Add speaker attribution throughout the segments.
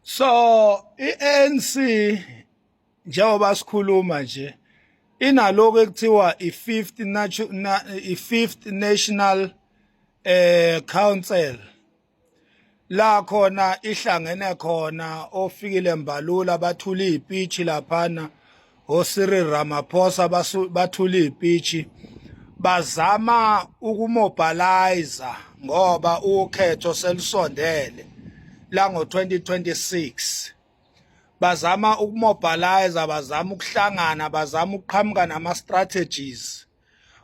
Speaker 1: so i-ANC njengoba sikhuluma nje inaloko ekuthiwa i-fifth i-fifth national eh council la khona ihlangene khona ofikile mbalula bathula izipitch laphana oSiri Ramaphosa bathula ipitshi bazama ukumobilizer ngoba ukhetho selusondele lango 2026 bazama ukumobilizer bazama ukuhlangana bazama ukuqhamuka nama strategies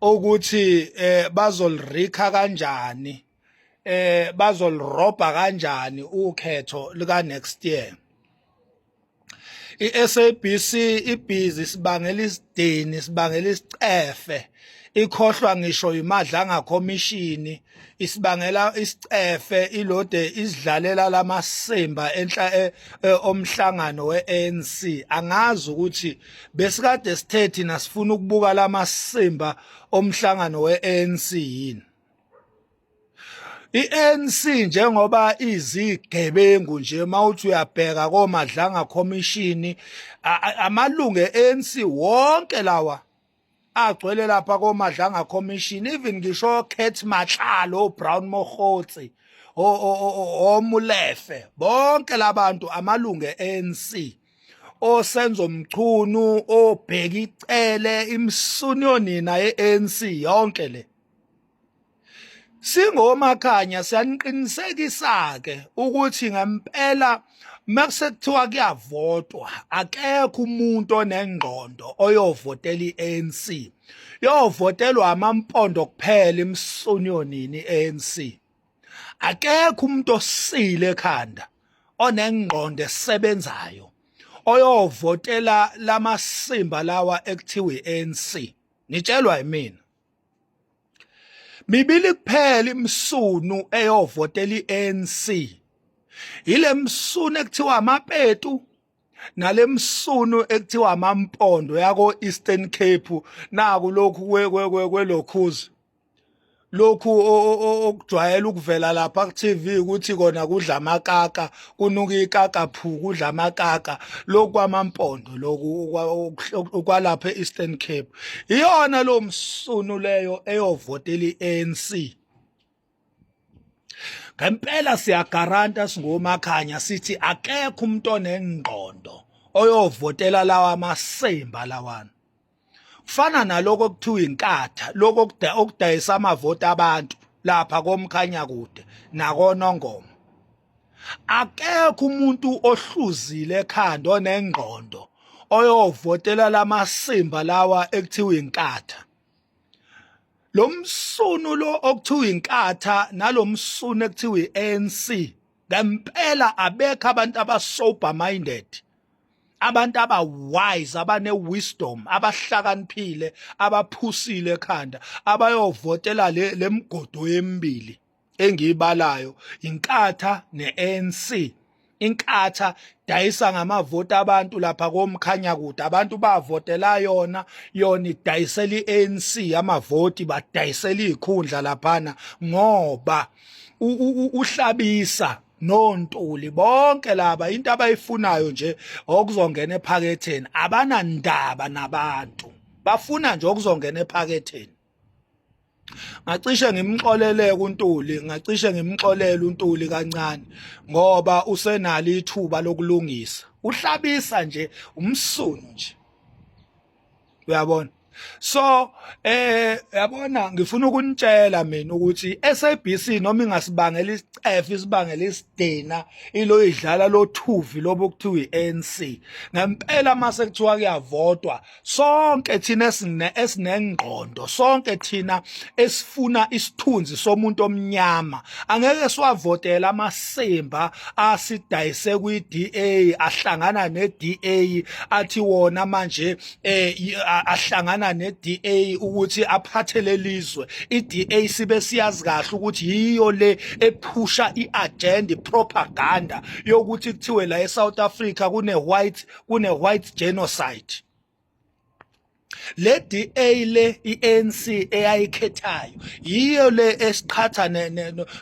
Speaker 1: ukuthi eh bazolirikha kanjani eh bazolirobha kanjani ukhetho lika next year iSABC ibhizi sibangela isidini sibangela isicefe ikhohlwa ngisho yimadlanga khomishini isibangela isicefe ilode isidlalela lamasimba enhla e, e, omhlangano weANC angazi ukuthi besikade sithe thina sifuna ukubuka lamasimba omhlangano weANC yini I-ANC njengoba izigebengu nje mawuthi uyabheka komadlanga commission amalungu e-ANC wonke lawa agcwele lapha komadlanga commission even ngisho Cat Matlalo Brown Mogotsi omulefe bonke labantu amalungu e-ANC osenzo mchunu obheki icele imsuni yonina ye-ANC yonke le Singomakhanya siyaniqinisekisa-ke ukuthi ngempela makusekuthiwa kuyavotwa akekho umuntu onengqondo oyovotela i-ANC yovotelwa amampondo kuphela imsunyonini i-ANC akekho umuntu osile ekhanda onengqondo esebenzayo oyovotela lamasimba lawa ekuthiwa i-ANC ngitshelwa yimina mibili kuphela imsunu eyovotela iANC yilemsunu ekuthiwa amapetu nalemsunu ekuthiwa amampondo yako Eastern Cape naku lokhu kwelokhuzi lokhu okujwayela ukuvela lapha ku TV ukuthi kona kudla amakaka kunuka ikaka phu kudla amakaka lokwamampondo loku okwalapha e-Eastern Cape iyona lo msunu leyo eyovotela i-ANC ngempela siyagaranta singomakhanya sithi akekho umuntu onengqondo oyovotela lawa masimba lawana kufana naloko okuthiwa inkatha lokho okudayisa amavoti abantu lapha komkhanya kude nakonongoma akekho umuntu ohluzile ekhanda onengqondo oyovotela lamasimba lawa ekuthiwa inkatha lo msunu lo okuthiwa inkatha nalo msunu ekuthiwa i-ANC ngempela abekho abantu abasober minded abantu aba wise abane wisdom abahlakaniphile abaphusile ekhanda abayovotela le lemgodo yemibili engiyibalayo inkatha neANC inkatha dayisa ngamavoti abantu lapha komkhanya kude abantu bavotela yona yona idayisela iANC amavoti badayisela izikhundla laphana ngoba uhlabisa nontuli bonke laba into abayifunayo nje okuzongena ephaketheni abanandaba nabantu bafuna nje okuzongena ephaketheni ngacishe ngimxolele kuNtuli ngacishe ngimxolele uNtuli kancane ngoba usenalo ithuba lokulungisa uhlabisa nje umsunu nje uyabona so eh yabona ngifuna ukunitshela mina ukuthi SABC noma ingasibangela isicefe isibangela isidina ilo idlala lothuvi lobo kuthiwa iANC ngempela mase kuthiwa kuyavotwa sonke thina esine esinengqondo sonke thina esifuna isithunzi somuntu omnyama angeke siwavotela amasimba asidayise kwiDA ahlangana neDA athi wona manje eh ahlangana neDA ukuthi aphathe lelizwe iDA sibe siyazi kahle ukuthi yiyo le ephusha iagenda propaganda yokuthi kuthiwe la eSouth Africa kune white kune white genocide le DA le iANC eyayikhethayo yiyo le esiqhatha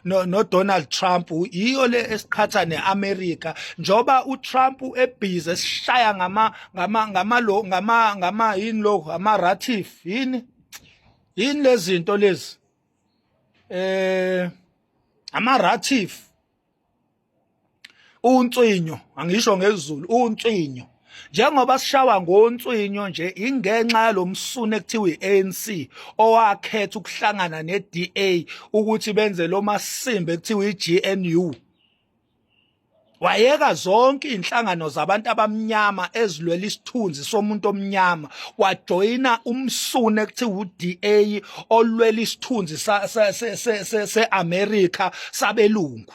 Speaker 1: no Donald Trump yiyo le esiqhatha neAmerica njoba uTrump ebhizi esishaya ngama ngama ngama lo ngama ngama yini lo ama ratif yini yini lezinto lezi eh ama ratif unswinyo angisho ngezulu unswinyo njengoba sishawa ngonswinyo nje ingenxa yalomsunu ekuthiwa iANC owakhetha ukuhlangana neDA ukuthi benze lo masimbe ekuthiwa iGNU wayeka zonke izinhlangano zabantu abamnyama ezilwela isithunzi somuntu omnyama wajoyina umsune ekuthiwa uDA olwela isithunzi seAmerica sabelungu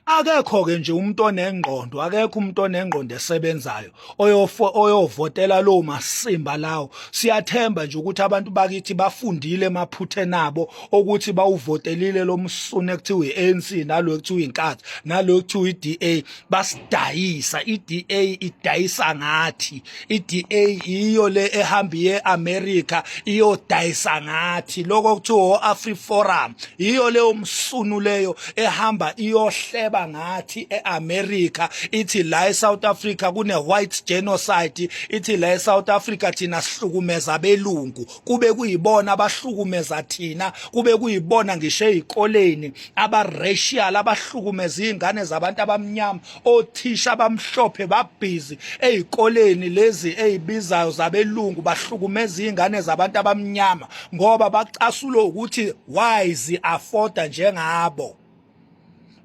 Speaker 1: akekho ke nje umuntu onengqondo akekho umuntu onengqondo esebenzayo oyofo oyovotela lo masimba lawo siyathemba nje ukuthi abantu bakithi bafundile emaphuthe nabo ukuthi bawuvotelile lo msune kuthiwa iANC nalo kuthiwa inkathi nalo kuthiwa iDA basidayisa iDA idayisa ngathi iDA iyo le ehamba ye America iyodayisa ngathi lokho kuthiwa Afri Forum iyo le umsunu leyo ehamba iyohleba ngathi eAmerica ithi la eSouth Africa kune white genocide ithi la eSouth Africa thina sihlukumeza belungu kube kuyibona abahlukumeza thina kube kuyibona ngisho ezikoleni abaracial abahlukumeza izingane zabantu abamnyama othisha abamhlophe babhizi ezikoleni lezi ezibizayo zabelungu bahlukumeza izingane zabantu abamnyama ngoba bacasulo ukuthi why zi afforda njengabo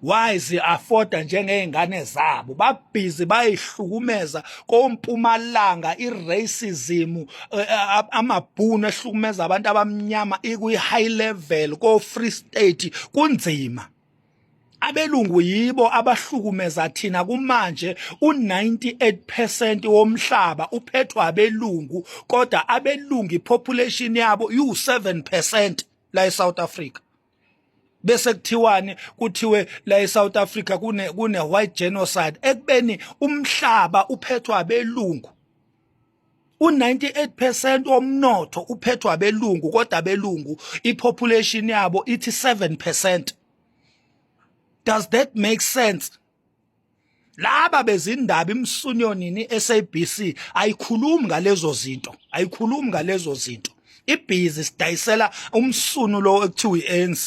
Speaker 1: wazi afforda njengeingane zabo babhizi bayihlukumeza kompumalanga iracism eh, eh, amabhunu ehlukumeza abantu abamnyama ikwi high level ko free state kunzima abelungu yibo abahlukumeza thina kumanje u98% womhlaba uphethwa abelungu kodwa abelungu ipopulation yabo yu7% la eSouth Africa bese kuthiwani kuthiwe la eSouth Africa kune kune white genocide ekubeni umhlaba uphethwa abelungu u98% womnotho uphethwa abelungu kodwa abelungu ipopulation yabo ithi 7% does that make sense laba bezindaba imsunyonini SABC ayikhulumi ngalezo zinto ayikhulumi ngalezo zinto ibhizi sidayisela umsunu lo ekuthiwa iANC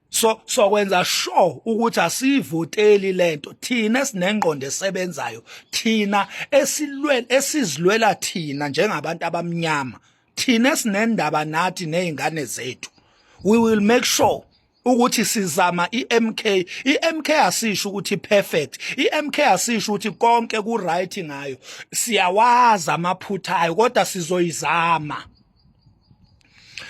Speaker 1: so sokwenza sure ukuthi asivoteli lento thina sinengqondo esebenzayo thina esilwela esizilwela thina njengabantu abamnyama thina sinendaba nathi nezingane zethu we will make sure ukuthi sizama iMK iMK asisho ukuthi perfect iMK asisho ukuthi konke ku right ngayo siyawazi amaphutha ayo kodwa sizoyizama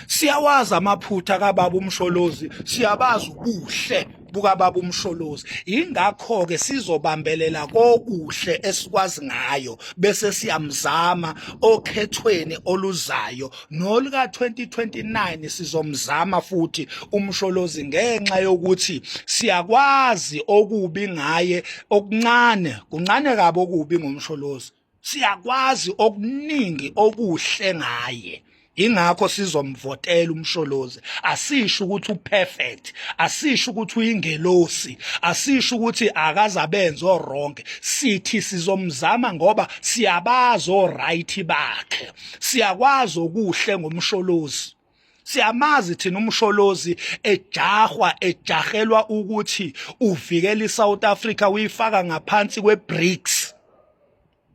Speaker 1: siyawazi amaphutha kababa umsholozi siyabazi ubuhle bukababa umsholozi ingakho ke sizobambelela kokuhle esikwazi ngayo bese siyamzama okhethweni oluzayo nolika 2029 sizomzama futhi umsholozi ngenxa yokuthi siyakwazi okubi ngaye okuncane kuncane kabi okubi ngomsholozi siyakwazi okuningi okuhle ngaye ingakho sizomvotela umsholozi asisho ukuthi uperfect asisho ukuthi uyingelosi asisho ukuthi akazabenza oronke sithi sizomzama ngoba siyabazi oright bakhe siyakwazi okuhle ngomsholozi siyamazi thina umsholozi ejahwa ejahelwa ukuthi uvikela iSouth Africa uyifaka ngaphansi kweBRICS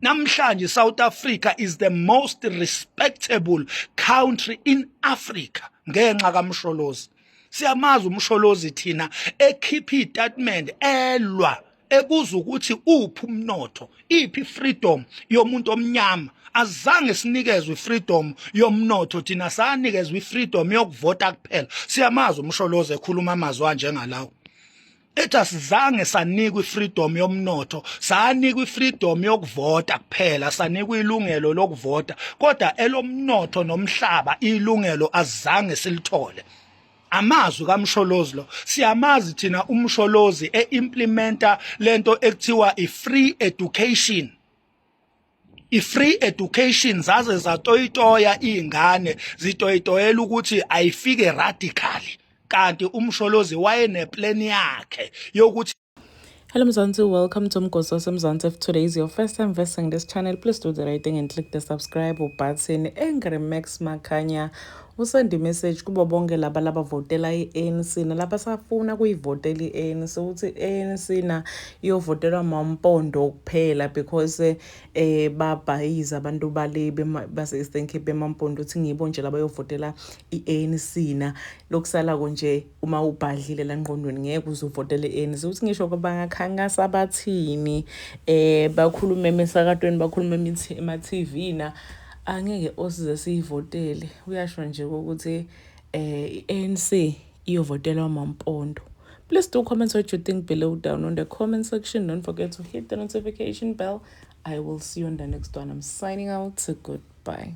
Speaker 1: namhlanje South Africa is the most respectable country in Africa ngenxa kamsholozi siyamazi umsholozi thina ekhipha istatement elwa ekuza ukuthi uphi umnotho iphi freedom yomuntu omnyama azange sinikezwe freedom yomnotho thina sanikezwe freedom yokuvota kuphela siyamazi umsholoze ekhuluma amazwi anjengalawo ethi asizange sanikwa ifreedom yomnotho sanikwa ifreedom yokuvota kuphela sanikwa ilungelo lokuvota kodwa elomnotho nomhlaba ilungelo azange silithole amazwi kaMsholozi lo siyamazi thina uMsholozi eimplementa lento ekuthiwa ifree education ifree education zaze zatoyitoya izingane zitoyitoyela ukuthi ayifike radical kanti uMsholozi wayeneplan yakhe yokuthi Hello Mzansi,
Speaker 2: welcome to Mgosi waseMzansi. If today is your first time visiting this channel, please do the right thing and click the subscribe button. Angry Max Makanya usend message kubo bonke laba labavotela i-ANC nalaba safuna kuyivotela i-ANC ukuthi i-ANC na iyovotelwa mampondo kuphela because eh babhayize abantu bale base-Eastern Cape bemampondo ukuthi ngibo nje labayovotela i-ANC na lokusala konje uma ubhadlile la ngqondweni ngeke uze uvotele ANC ukuthi ngisho bangakhankasa abathini eh bakhulume emsakatweni bakhulume ema-TV na angeke osize siyivotele uyasho nje ukuthi eh i-ANC iyovotelwa mampondo Please do comment what you think below down on the comment section. Don't forget to hit the notification bell. I will see you on the next one. I'm signing out. Goodbye.